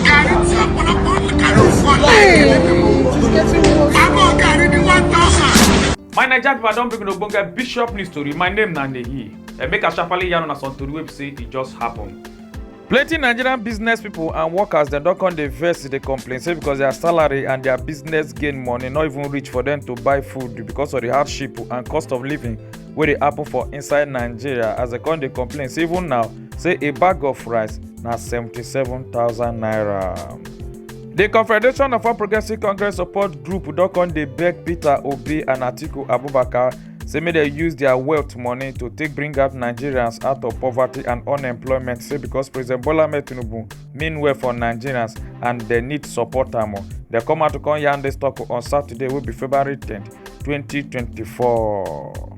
gàrí tí ọ̀pọ̀lọpọ̀ ọmọ kàrí fún ọ̀la àbọ̀ gàrí ní one thousand. my naija pipo i don bring una ogbonge bishop news tori my name na nehi and make i sharparly yarn una some tori wey be say e just happen. plenty nigerian business pipo and workers dem don come dey vex dey complain say because their salary and their business gain money no even reach for dem to buy food because of the hardship and cost of living wey dey happen for inside nigeria as dem come dey complain say even now say a bag of rice na 77000 naira di confederation of all progressive congress support group don come dey beg peter obi and atiku abubakar say make dem use dia wealth money to take bring out nigerians out of poverty and unemployment say becos president bola ahmed tinubu mean well for nigerians and dem need support am o dem come out to come yarn dis tok on saturday wey be february ten 2024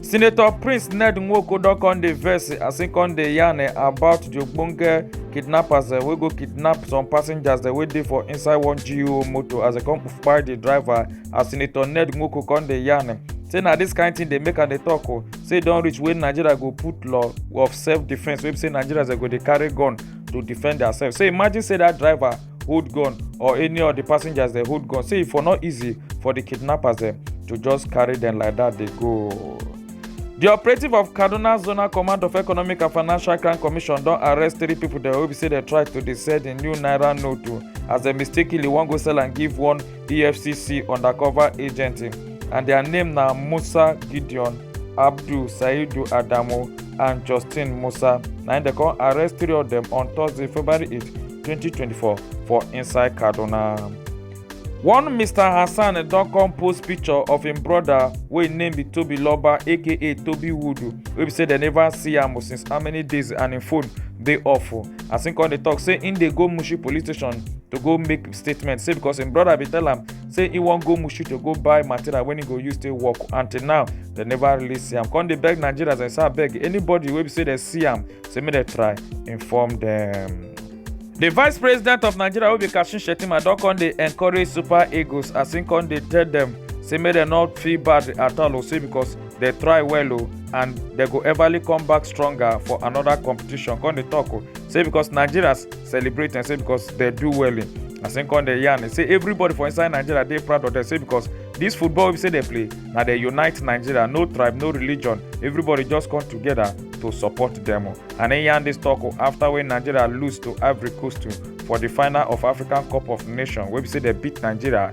senator prince ned nwoko don come dey vex as im come dey yarn eh, about di ogbonge kidnappers eh, wey go kidnap some passengers eh, wey dey for inside one geo motor as dem come kpai di driver as senator ned nwoko come dey yarn say na dis kain tin dey make am dey tok o say e don reach wey nigeria go put law of self defence wey be say nigerians go dey carry gun to defend diasef say imagine say dat driver hold gun or any of the passengers dem hold gun say e for no easy for the kidnappers dem to just carry dem like that dey go. di operative of kaduna zonal command of economic and financial crime commission don arrest three pipo dem wey be say dem try to dey sell di new naira note as dem mistakenly wan go sell am give one efcc undercover agent and their name na musa gideon abdul saidu adamu and justin musa na im dem come arrest three of dem on thursday february 8 2024 for inside kaduna. one mr hassan don come post picture of im brother wey im name be tobi loba aka tobi wood wey be say dem never see am since how many days and im phone dey off as im come dey tok say im dey go mushi police station to go make statement say because im brother bin tell am say he wan go mushu to go buy material wey he go use take work until now dem never release am come dey beg nigerians and say abeg anybody wey be say dem see am say make dem try inform dem. di vice president of nigeria wey be kashim shettima don come dey encourage super eagles as im come dey tell dem say make dem no feel bad at all o say because dem try well o and dem go everly come back stronger for anoda competition come dey tok o say because nigerians celebrate and say because they do well in as im come dey yarn say everybody for inside nigeria dey proud of them say because this football we say they play na they unite nigeria no tribe no religion everybody just come together to support them and im yarn dis tok after when nigeria lose to ivory coast for the final of african cup of nations wey be say they beat nigeria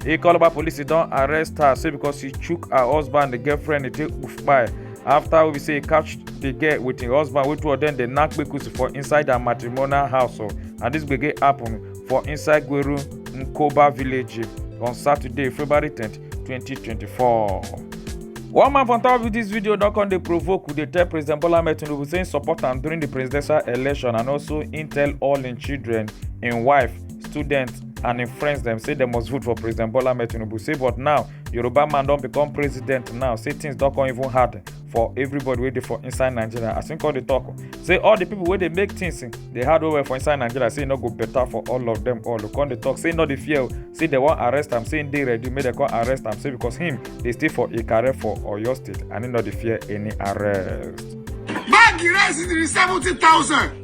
Ikoloba police don arrest her say because she chook her husband the girlfriend dey take kpai after we be say e catch the girl with im husband wey two of dem dey knack kpekusi for inside her matrimonial house o and this gbege happen for inside gweru nkoba village on saturday february tenth twenty twenty four. One man from top of this video don come dey provoke dey tell President Bola Ahmed Tinubu say im support am during the presidential election and also im tell all im children, im wife students and im friends dem say dem must vote for president bola ahmed tinubu say but now yoruba man don become president now say things don come even hard for everybody wey dey for inside nigeria as im come dey talk say all the people wey dey make things eh, dey hard well well for inside nigeria say e no go better for all of them all come dey talk say e no dey fear o say dem wan arrest am say im dey ready make dem come arrest am say because him dey stay for ikare for oyo state and e no dey fear any arrest. báàgì rẹ̀ sì ti di seventy thousand.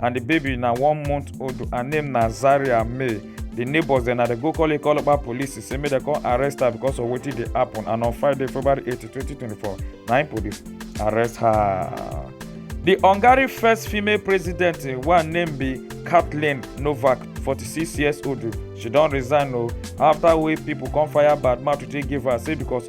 and the baby na one month old her name na zaria may the neighbors dem na dey go call ikolopa police say make dem come arrest her because of wetin dey happen and on friday february 8 2024 na im police arrest her. the hungary first female president wey name be kathleen novak 46 years old she don resign o after wey pipo come fire badmouth to take give her say because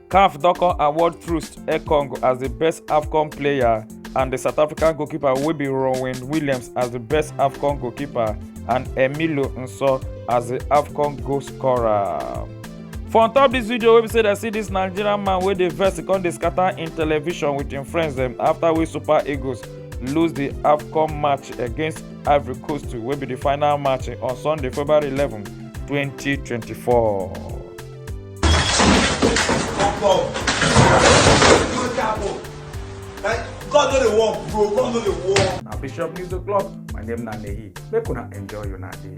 caf don come award troost ekong as di best afcon player and di south african goalkeeper wey be ronwen williams as di best afcon goalkeeper and emilio nso as di afcon goal scorer for on top dis video wey be say dem see dis nigerian man wey dey vex e come dey scatter im television wit im friends dem afta wey super eagles lose di afcon match against ivory coast wey be di final match on sunday february eleven twenty twenty four. God no dey work, bro. God no dey work. Na Bishop News O'Clock. My name na Nehi. Make una enjoy una day.